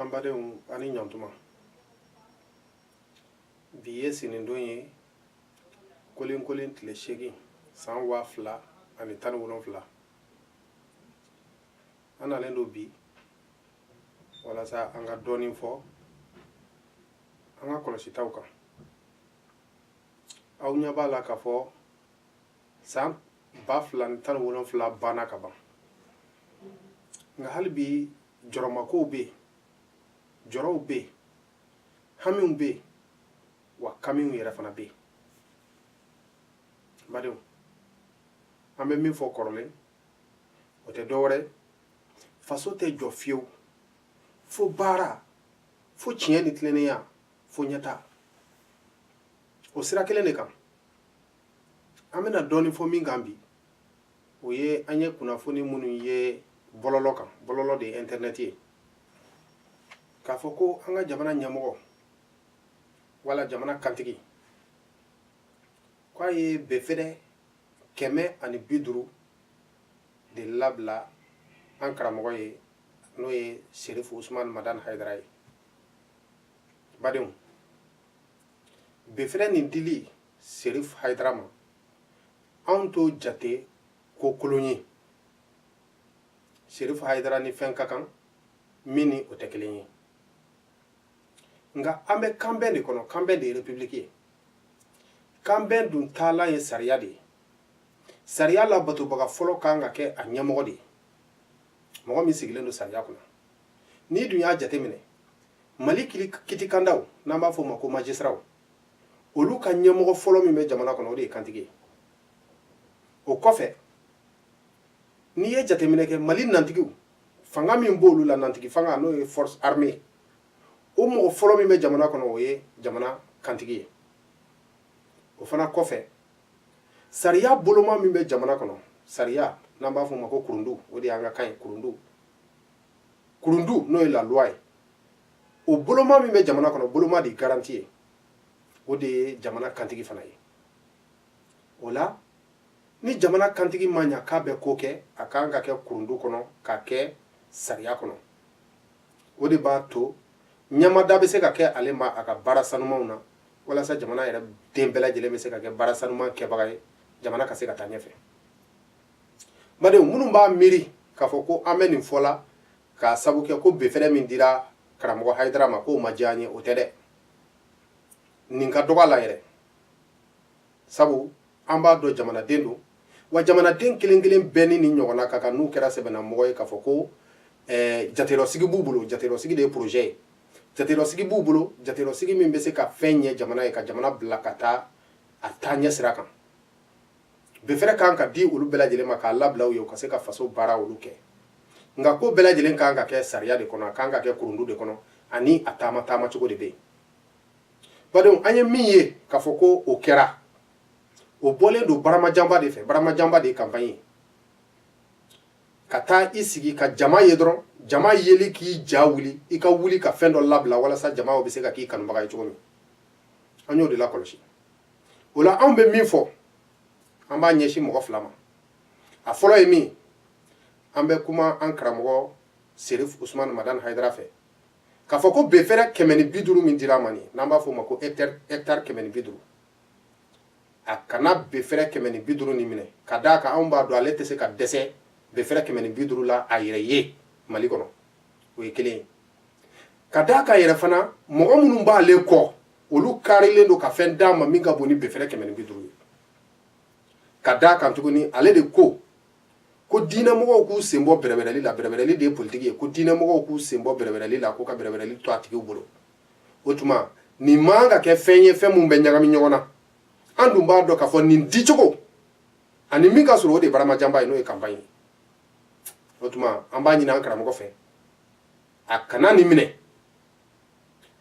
an badenw ani ɲantuma bi ye sinindon ye kolenkolen tile seegin san waa fila ani tan ni wolonfila an nalen don bi walasa an ka dɔɔnin fɔ an ka kɔlɔsitaw kan aw ɲɛ b'a la k'a fɔ san ba fila ni tan wolonfila banna ka ban nka hali bi jɔrɔmakow bɛ yen jɔrɔw bɛ yen hamiw bɛ yen wa kamiw yɛrɛ fana bɛ yen badenw an bɛ min fɔ kɔrɔlen o tɛ dɔwɛrɛ faso tɛ jɔ fiyewu fo baara fo tiɲɛ ni tilennenya fo ɲɛtaa o sira kelen de kan an bɛna dɔɔnin fɔ min kan bi o ye an ye kunnafoni minnu ye bɔlɔlɔ kan bɔlɔlɔ de ye internet ye k'a fɔ ko an ka jamana ɲɛmɔgɔ wala jamana kantigi k'a ye befɛrɛ kɛmɛ ani bi duuru de labila an karamɔgɔ ye n'o ye serifu usumani madani hayidara ye badenw befɛrɛ nin dili serif hayidara ma anw t'o jate ko kolon ye serif hayidara ni fɛn ka kan min ni o tɛ kelen ye nka an bɛ kanbɛn de kɔnɔ kanbɛn de ye repibuliki ye kanbɛn dun taalan ye sariya de ye sariya labatobaga fɔlɔ kan ka kɛ a ɲɛmɔgɔ de ye mɔgɔ min sigilen don sariya kunna n'i dun y'a jateminɛ mali kitikandaw n'an b'a fɔ o ma ko majisitiraw olu ka ɲɛmɔgɔ fɔlɔ min bɛ jamana kɔnɔ o de ye kantigi ye o kɔfɛ n'i ye jateminɛ kɛ mali nantigiw fanga min b'olu la nantigi fanga n'o ye force armée o mɔgɔ fɔlɔ min bɛ jamana kɔnɔ o ye jamana kantigi ye o fana kɔfɛ sariya boloma min bɛ jamana kɔnɔ sariya n'an b'a fɔ o ma ko kurundu o de y'an ka kan ye kurundu kurundu n'o ye laluwa ye o boloma min bɛ jamana kɔnɔ boloma de ye garanti ye o de ye jamana kantigi fana ye o la ni jamana kantigi ma ɲa k'a bɛ ko kɛ a kan ka kɛ kurundu kɔnɔ ka kɛ sariya kɔnɔ o de b'a to ɲamada bɛ se ka kɛ ale ma a ka baara sanumanw na walasa jamana yɛrɛ den bɛɛ lajɛlen bɛ se ka kɛ baara sanuman kɛbaga ye jamana ka se ka taa ɲɛfɛ badenw minnu b'a miiri k'a fɔ ko an bɛ nin fɔ la k'a sabu kɛ ko befɛrɛ min dira karamɔgɔ hayidara ma k'o ma diya an ye o tɛ dɛ nin ka dɔgɔ a la yɛrɛ sabu an b'a dɔn jamanaden don wa jamanaden kelen kelen bɛɛ ni nin ɲɔgɔnna ka kan n'u kɛra sɛbɛnnamɔgɔ ye k'a fɔ ko eh, jaterɔsigi b'u bolo jaterɔsigi de ye projet ye jaterɔsigi b'u bolo jaterɔsigi min bɛ se ka fɛn ɲɛ jamana ye ka jamana bila ka taa a taa ɲɛ sira kan befɛrɛ kan ka di olu bɛɛ lajɛlen ma k'a labila u ye u ka se ka faso baara olu kɛ nka ko bɛɛ lajɛlen kan ka kɛ sariya de kɔnɔ a kan ka kɛ kurundu de kɔnɔ ani a taama taama cogo de bɛ yen badenw an ye min ye k'a fɔ ko o kɛra o bɔlen don baramajanba de fɛ baramajanba de ye kanpaɲi ye ka taa i sigi ka jama ye dɔrɔn jama yeli k'i ja wuli i ka wuli ka fɛn dɔ labila walasa jama bɛ se ka k'i kanubaga ye cogo min an y'o de lakɔlɔsi o la anw bɛ min fɔ an b'a ɲɛsin mɔgɔ fila ma a fɔlɔ ye min an bɛ kuma an karamɔgɔ serif usumani madan hayidara fɛ k'a fɔ ko befɛrɛ kɛmɛ ni bi duuru min dira a ma nin n'an b'a fɔ o ma ko hɛktari kɛmɛ ni bi duuru a kana befɛrɛ kɛmɛ ni bi duuru nin minɛ ka d'a kan anw b'a dɔn ale tɛ se ka dɛsɛ befɛrɛ kɛmɛ ni bi duuru la a yɛrɛ ye mali kɔnɔ o ye kelen ye ka d'a kan yɛrɛ fana mɔgɔ minnu b'ale kɔ olu karilen don ka fɛn d'a ma min ka bon ni befɛrɛ kɛmɛ ni bi duuru ye ka d'a kan tuguni ale de ko ko diinɛmɔgɔw k'u sen bɔ bɛrɛbɛrɛli la bɛrɛbɛrɛli de ye politiki ye ko diinɛmɔgɔw k'u sen bɔ bɛrɛbɛrɛli la ko ka bɛrɛbɛrɛli to a tigiw bolo o tuma nin man ka kɛ fɛn ye fɛn minnu bɛ ɲagami ɲɔgɔn na an dun b'a dɔn k'a fɔ nin dicogo ani min ka sɔrɔ o de ye baramajanba ye n'o ye kanpaɲi ye o tuma an b'a ɲini an karamɔgɔ fɛ a kana nin minɛ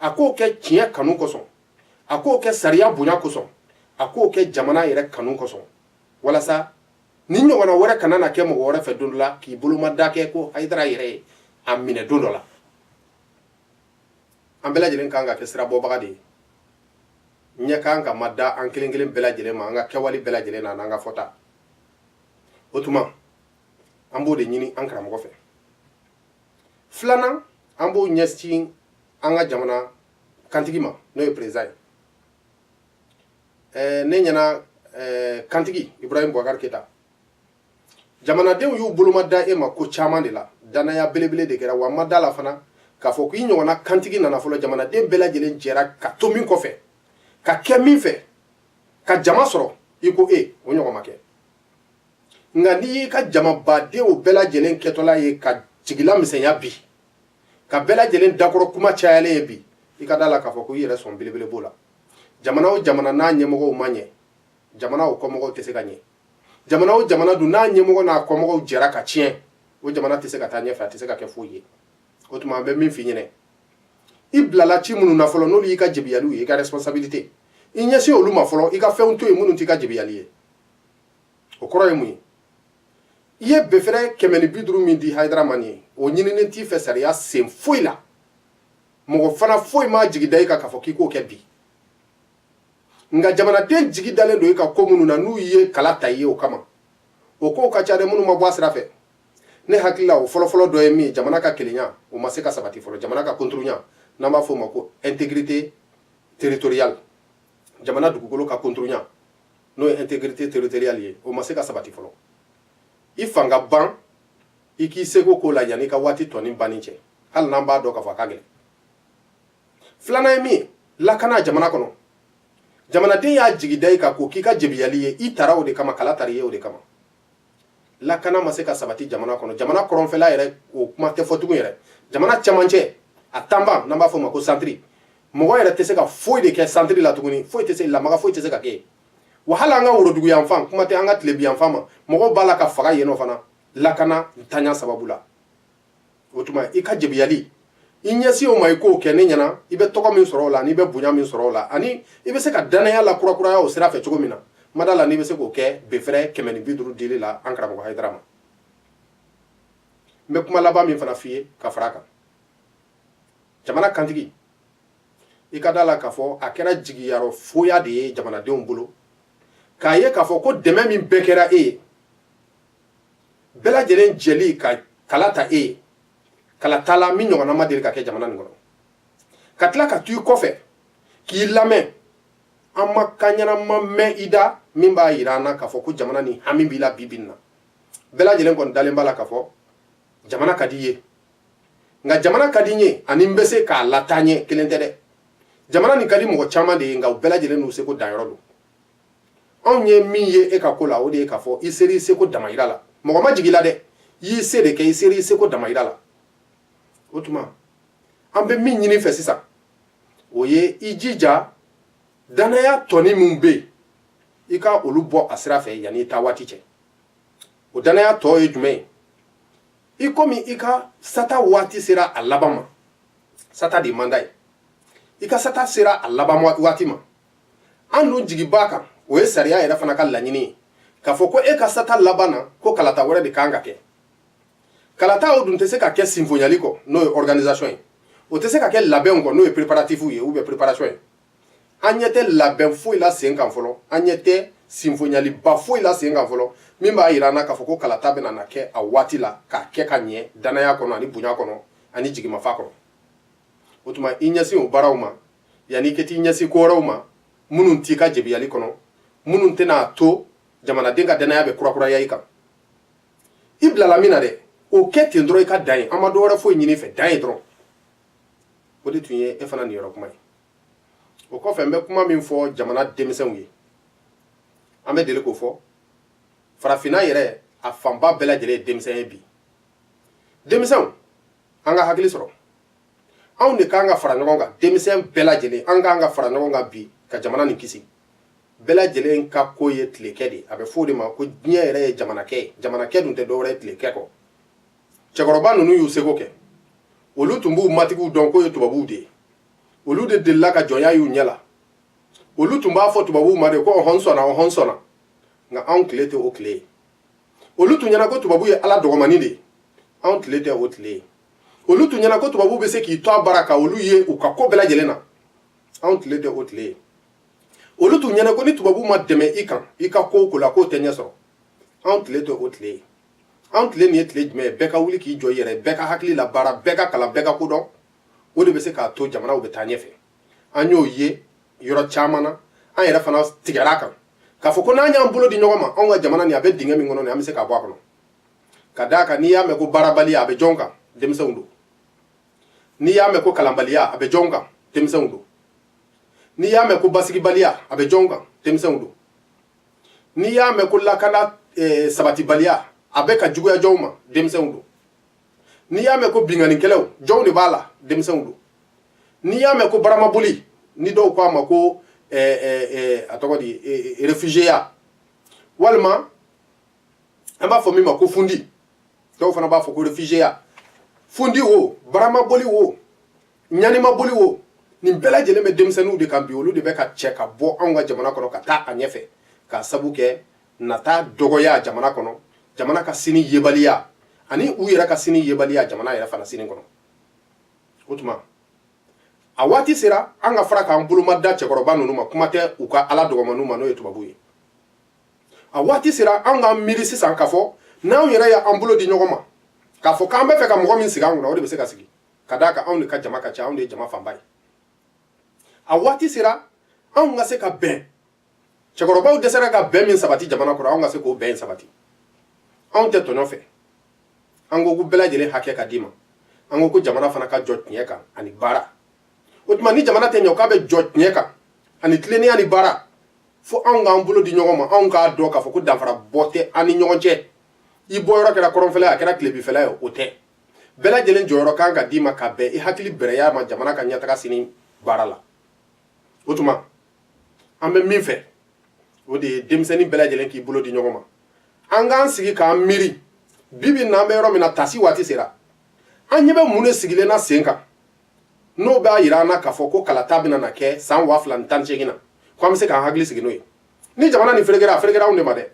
a k'o kɛ tiɲɛ kanu kosɔn a k'o kɛ sariya bonya kosɔn a k'o kɛ jamana yɛrɛ kanu kosɔn walasa nin ɲɔgɔnna wɛrɛ kana na kɛ mɔgɔ wɛrɛ fɛ don dɔ la k'i bolomada kɛ ko hayidara yɛrɛ ye a minɛ don dɔ la an bɛɛ lajɛlen kan ka kɛ sirabɔbaga de ye ɲɛ kan ka ma da an kelen kelen bɛɛ lajɛlen ma an ka kɛwale bɛɛ lajɛlen na n'an ka fɔta o tuma an b'o de ɲini an karamɔgɔ fɛ filanan an b'o ɲɛsin an ka jamana kantigi ma n'o ye perezidan ye eh, ne ɲɛna eh, kantigi ibrahim bubakari keyita jamanadenw y'u boloma da e ma ko caman de la dannaya belebele de kɛra wa n ma da a la fana k'a fɔ k'i ɲɔgɔnna kantigi nana fɔlɔ jamanaden bɛɛ lajɛlen jɛra ka to min kɔfɛ ka kɛ min fɛ ka jama sɔrɔ i ko e o ɲɔgɔn ma kɛ nka n'i y'i ka jamabadenw bɛɛ lajɛlen kɛtɔla ye ka jigilamisɛnya bi ka bɛɛ lajɛlen dakɔrɔ kuma cayalen ye bi i ka da la k'a fɔ ko i yɛrɛ sɔn belebele b'o la jamana o jamana n'a ɲɛmɔgɔw ma ɲɛ jamana o kɔmɔgɔw tɛ se ka ɲɛ jamana o jamana dun n'a ɲɛmɔgɔ n'a kɔmɔgɔw jɛra ka tiɲɛ o jamana tɛ se ka taa ɲɛfɛ a tɛ se ka kɛ foyi ye o tuma an bɛ min f'i ɲɛna i bilala ci minnu na fɔlɔ n'olu y'i ka jebiyaliw ye i ka responsabilité i ɲɛsin olu ma fɔlɔ i ka fɛnw to yen minnu t'i ka jebiyali ye o kɔrɔ ye mun ye i ye befɛrɛ kɛmɛ ni bi duuru min di hayidara ma nin ye o ɲininen t'i fɛ sariya sen foyi la mɔgɔ fana foyi m'a jigi da i kan k'a fɔ k'i k'o kɛ bi nka jamanaden jigi dalen don i ka ko minnu na n'u ye kala ta i ye o kama o kow ka ca dɛ minnu ma bɔ a sira fɛ ne hakili la o fɔlɔfɔlɔ dɔ ye min ye jamana ka kelenya o ma se ka sabati fɔlɔ jamana ka konturunya n'an b'a fɔ o ma ko intégrité territoriale jamana dugukolo ka konturunya n'o ye intégrité territoriale ye o ma se ka sabati fɔlɔ i fanga ban i k'i seko k'o la yanni i ka waati tɔni banni cɛ hali n'an b'a dɔn k'a fɔ a ka gɛlɛn filanan ye min ye lakana jamana kɔnɔ jamanaden y'a jigi da i kan k'o k'i ka jebiyali ye i tara o de kama kala tar'i ye o de kama lakana ma se ka sabati jamana kɔnɔ jamana kɔrɔnfɛla yɛrɛ o kuma tɛ fɔ tugun yɛrɛ jamana cɛmancɛ a tanban n'an b'a fɔ o ma ko centre mɔgɔ yɛrɛ tɛ se ka foyi de kɛ centre la tuguni foyi tɛ se lamaga foyi tɛ se ka kɛ wa hali an ka worodugu yanfan kuma tɛ an ka tilebi yanfan ma mɔgɔw b'a la ka faga yen nɔ fana lakana ntanya sababu la o tuma i ka jebiyali i ɲɛsin o ma i k'o kɛ ne ɲɛna i bɛ tɔgɔ min sɔrɔ o la n'i bɛ bonya min sɔrɔ o la ani i bɛ se ka dannaya lakurakuraya o sira fɛ cogo min na n ma da la n'i bɛ se k'o kɛ befɛrɛ kɛmɛ ni bi duuru dili la an karamɔgɔ hayidara ma n bɛ kuma laban min fana f'i ye ka fara a kan jamana kantigi i ka da la k'a fɔ a kɛra jigiyarɔ foya de ye jamanadenw bolo k'a ye k'a fɔ ko dɛmɛ min bɛɛ kɛra e ye bɛɛ lajɛlen jɛli ka kala ta e ye kalata la min ɲɔgɔnna ma deli ka kɛ jamana nin kɔnɔ ka tila ka tugu i kɔfɛ k'i lamɛn an ma kan ɲanama mɛn i da min b'a yira an na k'a fɔ ko jamana nin hami b'i la bi bi in na bɛɛ lajɛlen kɔni dalen b'a la k'a fɔ jamana ka di i ye nka jamana ka di n ye ani n bɛ se k'a lataa ɲɛ kelen tɛ dɛ jamana nin ka di mɔgɔ caman de ye nka u bɛɛ lajɛlen n'u seko danyɔrɔ don anw ye min ye e ka ko la o de ye k'a fɔ i ser'i seko damayira la mɔgɔ ma jigi i la dɛ i y'i se de kɛ i ser'i seko damayira la o tuma an bɛ min ɲini i fɛ sisan o ye i jija dannaya tɔni minw bɛ yen i ka olu bɔ a sira fɛ yanni i taa waati cɛ o dannaya tɔ ye jumɛn ye i komi i ka sata waati sera a laban ma sata de ye mandat ye i ka sata sera a laban waati ma an dun jigi b'a kan o ye sariya yɛrɛ fana ka laɲini ye k'a fɔ ko e ka sata laban na ko kalata wɛrɛ de kan ka kɛ kalata o dun tɛ se ka kɛ sinfonyali kɔ n'o ye organisation ye o tɛ se ka kɛ labɛnw kɔ n'o ye préparatif ye ou bien préparation ye an ɲɛ tɛ labɛn foyi la sen kan fɔlɔ an ɲɛ tɛ sinfonyaliba foyi la sen kan fɔlɔ min b'a yira an na k'a fɔ ko kalata bɛna na kɛ a waati la k'a kɛ ka ɲɛ dannaya kɔnɔ ani bonya kɔnɔ ani jigimafa kɔnɔ o tuma i ɲɛsin o baaraw ma yanni i ka t'i ɲɛsin ko wɛrɛw ma minnu t'i ka jebiyali kɔnɔ minnu tɛna a to jamanaden ka dannaya bɛ kurakuraya i kan i bilala min na dɛ o kɛ ten dɔrɔn i ka dan ye an ma dɔ wɛrɛ foyi ɲini i fɛ dan ye dɔrɔn o de tun ye e fana niyɔrɔ kuma ye o kɔfɛ n bɛ kuma min fɔ jamana denmisɛnw ye an bɛ deli k'o fɔ farafinna yɛrɛ a fanba bɛɛ lajɛlen ye denmisɛn ye bi denmisɛnw an ka hakili sɔrɔ anw de kan ka fara ɲɔgɔn kan denmisɛn bɛɛ lajɛlen an kan ka fara ɲɔgɔn kan bi ka jamana nin kisi bɛɛ lajɛlen ka ko ye tilekɛ de a bɛ fɔ o de ma ko diɲɛ yɛrɛ ye jamanakɛ ye jamanakɛ dun tɛ dɔwɛrɛ ye tilekɛ kɔ cɛkɔrɔba ninnu y'u seko kɛ olu tun b'u matigiw dɔn k'o ye tubabuw de ye olu de delila ka jɔnya y'u ɲɛ la olu tun b'a fɔ tubabuw ma de ko ɔhɔn sɔnna ɔhɔn sɔnna nka anw tile tɛ o tile ye olu tun ɲɛna ko tubabu ye ala dɔgɔmani de ye anw tile tɛ o tile ye olu tun ɲɛna ko tubabu bɛ se k'i to a bara ka olu ye u ka ko bɛɛ lajɛlen na anw tile tɛ o tile ye olu tun ɲɛna ko ni tubabu ma dɛmɛ i kan i ka ko o ko la k'o tɛ ɲɛ sɔrɔ anw tile tɛ o tile ye anw tile nin ye tile jumɛn ye bɛɛ ka wuli k'i jɔ i yɛrɛ bɛɛ ka hakili labaara bɛɛ ka kalan bɛɛ ka ko dɔn o de bɛ se k'a to jamanaw bɛ taa ɲɛfɛ an y'o ye yɔrɔ caman na an yɛrɛ fana tigɛra a kan k'a fɔ ko n'an y'an bolo di ɲɔgɔn ma anw ka jamana nin a bɛ dingɛ min kɔnɔ nin an bɛ se k'a bɔ a kɔnɔ ka d'a kan n'i y'a mɛn ko baarabaliya a bɛ jɔn kan denmisɛnw don n'i y'a mɛn ko kalanbaliya a bɛ jɔn kan denmisɛnw don n'i y'a mɛn ko basigibaliya a bɛ jɔn kan denmisɛnw don n'i y'a mɛn ko lakana eh, sabatibaliya a bɛ ka juguya jɔnw ma denmisɛnw don n'i y'a mɛn ko binkannikɛlaw jɔnw de b'a la denmisɛnw don n'i y'a mɛn ko baramaboli ni dɔw ko a ma ko eh, eh, a tɔgɔ di réfugiéya walima an b'a fɔ min ma ko fundi dɔw fana b'a fɔ ko réfugiéya fundi o baramaboli o ɲanimaboli o nin bɛɛ lajɛlen bɛ denmisɛnninw de kan bi olu de bɛ ka cɛ ka bɔ anw ka jamana kɔnɔ ka taa a ɲɛfɛ ka sabu kɛ nata dɔgɔya jamana kɔnɔ jamana ka sini yebaliya ani u yɛrɛ ka sini yebaliya jamana yɛrɛ fana sini kɔnɔ o tuma a waati sera an ka fara k'an boloma da cɛkɔrɔba ninnu ma kuma tɛ u ka ala dɔgɔmaniw ma n'o ye tubabuw ye a waati sera an k'an miiri sisan k'a fɔ n'anw yɛrɛ y'an bolo di ɲɔgɔn ma k'a fɔ k'an bɛ fɛ ka mɔgɔ min sigi an kunna o de bɛ se ka sigi ka d'a kan anw de ka jama ka ca anw de ye jama fanba ye a waati sera anw ka se ka bɛn cɛkɔrɔbaw dɛsɛra ka bɛn min sabati jamana kɔnɔ anw ka se k'o bɛn sabati anw tɛ tɔɲɔ fɛ an ko ko bɛɛ lajɛlen hakɛ ka d'i ma an ko ko jamana fana ka jɔ tiɲɛ kan ani baara o tuma ni jamana tɛ ɲɛ k'a bɛ jɔ tiɲɛ kan ani tilennenya ni baara fo anw k'an bolo di ɲɔgɔn ma anw k'a dɔn k'a fɔ ko danfara bɔ tɛ an ni ɲɔgɔn cɛ i bɔyɔrɔ kɛra kɔrɔnfɛla ye a kɛra tilebinfɛla ye o tɛ bɛɛ lajɛlen jɔyɔrɔ kan ka d'i ma ka bɛn i hakili bɛrɛya ma jamana ka ɲɛtaga sini baara la o tuma an bɛ min fɛ o de ye denmisɛnnin bɛɛ lajɛlen k'i bolo di ɲɔgɔn ma an k'an sigi k'an miiri bi bi n'an bɛ yɔrɔ min na tasi waati sera an ɲɛ bɛ mun de sigilen na sen kan n'o b'a yira an na k'a fɔ ko kalata bɛna na kɛ san waa fila ni tan ni seegin na ko an bɛ se k'an hakili sigi n'o ye ni jamana nin ferekera a ferekera anw de ma dɛ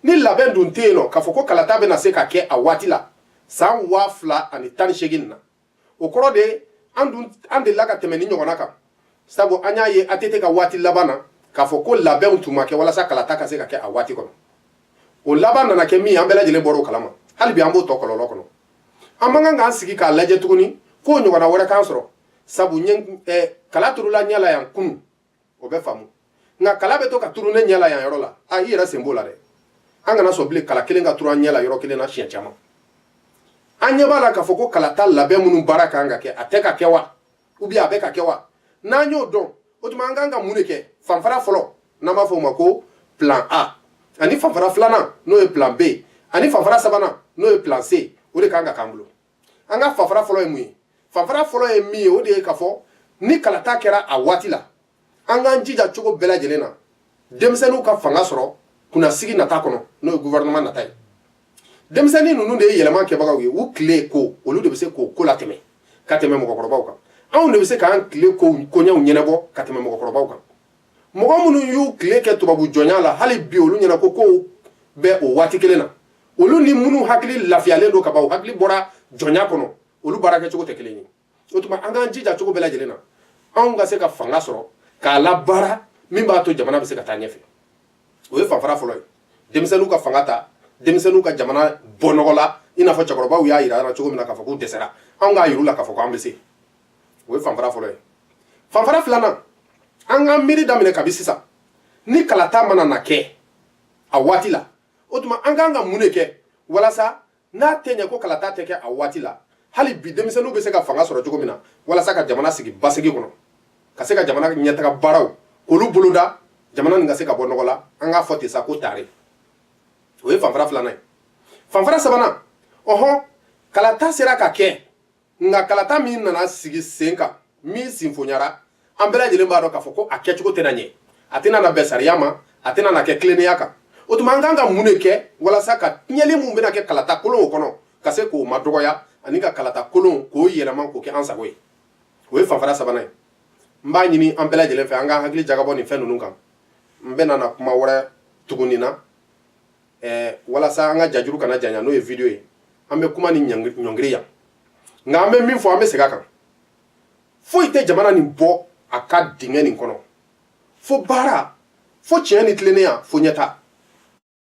ni labɛn dun tɛ yen nɔ k'a fɔ ko kalata bɛna se ka kɛ a waati la san waa fila ani tan ni seegin na o kɔrɔ de an delila ka tɛmɛ nin ɲɔgɔnna kan sabu an y'a ye ATT ka waati laban na k'a fɔ ko labɛnw tun ma kɛ walasa kalata ka se ka kɛ a waati kɔnɔ o laban nana kɛ min an bɛɛ lajɛlen bɔr'o kalama hali bi an b'o tɔ kɔlɔlɔ kɔnɔ an man kan k'an sigi k'a lajɛ tuguni k'o ɲɔgɔnna wɛrɛ k'an sɔrɔ sabu ɲɛ eh, kala turula ɲɛ la yan kunu o bɛ faamu nka kala bɛ to ka turu ne ɲɛ la yan yɔrɔ la a i yɛrɛ sen b'o la dɛ an kana sɔn bilen kala kelen ka turu an ɲɛ la yɔrɔ kelen na siɲɛ caman an ɲɛ b'a la k'a fɔ ko kalata labɛn minnu baara kan ka kɛ a tɛ ka kɛ wa ou bien a bɛ ka kɛ wa n'an y'o dɔn o tuma an kan ka mun de kɛ fanfara fɔlɔ n'an b'a fɔ o ma ko plan a ani fanfara filanan n'o ye plan b ani fanfara sabanan n'o ye plan c o de kan ka k'an bolo an ka fanfara fɔlɔ ye mun ye fanfara fɔlɔ ye min ye o de ye k'a fɔ ni kalata kɛra a waati la an k'an jija cogo bɛɛ lajɛlen na denmisɛnninw ka fanga sɔrɔ kunnasigi nata kɔnɔ n'o ye gouvernement nata ye denmisɛnnin ninnu de ye yɛlɛma kɛbagaw ye u tile ko olu de bɛ se k'o ko latɛmɛ ka tɛmɛ mɔgɔkɔrɔbaw kan anw de bɛ se k'an tile ko koɲɛw ɲɛnabɔ ka tɛmɛ mɔgɔkɔrɔbaw kan mɔgɔ minnu y'u tile kɛ tubabu jɔnya la hali bi olu ɲɛna ko kow bɛ o waati kelen na olu ni minnu hakili lafiyalen don ka ban u hakili bɔra jɔnya kɔnɔ olu baara kɛcogo tɛ kelen ye o tuma an k'an jija cogo bɛɛ lajɛlen na anw ka se ka fanga sɔrɔ k'a labaara min b'a to jamana bɛ se ka taa ɲɛfɛ o ye fanfara fɔlɔ ye denmisɛnninw ka fanga ta denmisɛnninw ka jamana bɔ nɔgɔ la i n'a fɔ cɛkɔrɔbaw y'a yira cogo min na k'a fɔ k'u dɛsɛra anw k'a yir'u la k'a fɔ k'an bɛ se o ye fanfara fɔlɔ ye fanfara filanan an k'an miiri daminɛ kabi sisan ni kalata mana na kɛ a waati la o tuma an kan ka mun de kɛ walasa n'a tɛ ɲɛ ko kalata tɛ kɛ a waati la hali bi denmisɛnninw bɛ se ka fanga sɔrɔ cogo min na walasa ka jamana sigi basigi kɔnɔ ka se ka jamana ɲɛtaga baaraw k'olu boloda jamana nin ka se ka bɔ nɔgɔ la an k'a fɔ ten sa ko tare o ye fanfara filanan ye fanfara sabanan ɔhɔn kalata sera ka kɛ nka kalata min nana sigi sen kan min sinfonyara an bɛɛ lajɛlen b'a dɔn k'a fɔ ko a kɛcogo tɛna ɲɛ a tɛna na bɛn sariya ma a tɛna na kɛ tilennenya kan o tuma an kan ka mun de kɛ walasa ka tiɲɛli min bɛna kɛ kalata kolonw kɔnɔ ka se k'o madɔgɔya ani ka kalata kolon k'o yɛlɛma k'o kɛ an sago ye o ye fanfara sabanan ye n b'a ɲini an bɛɛ lajɛlen fɛ an k'an hakili jagabɔ nin fɛn ninnu kan n tɛna na kuma wɛrɛ tugu nin na ɛɛ walasa an ka jajuru kana janya n'o ye video ye an bɛ kuma nin ɲɔngiri yan nka an bɛ min fɔ an bɛ segin a kan foyi tɛ jamana nin bɔ a ka dingɛ nin kɔnɔ fo baara fo tiɲɛ ni tilennenya fo ɲɛta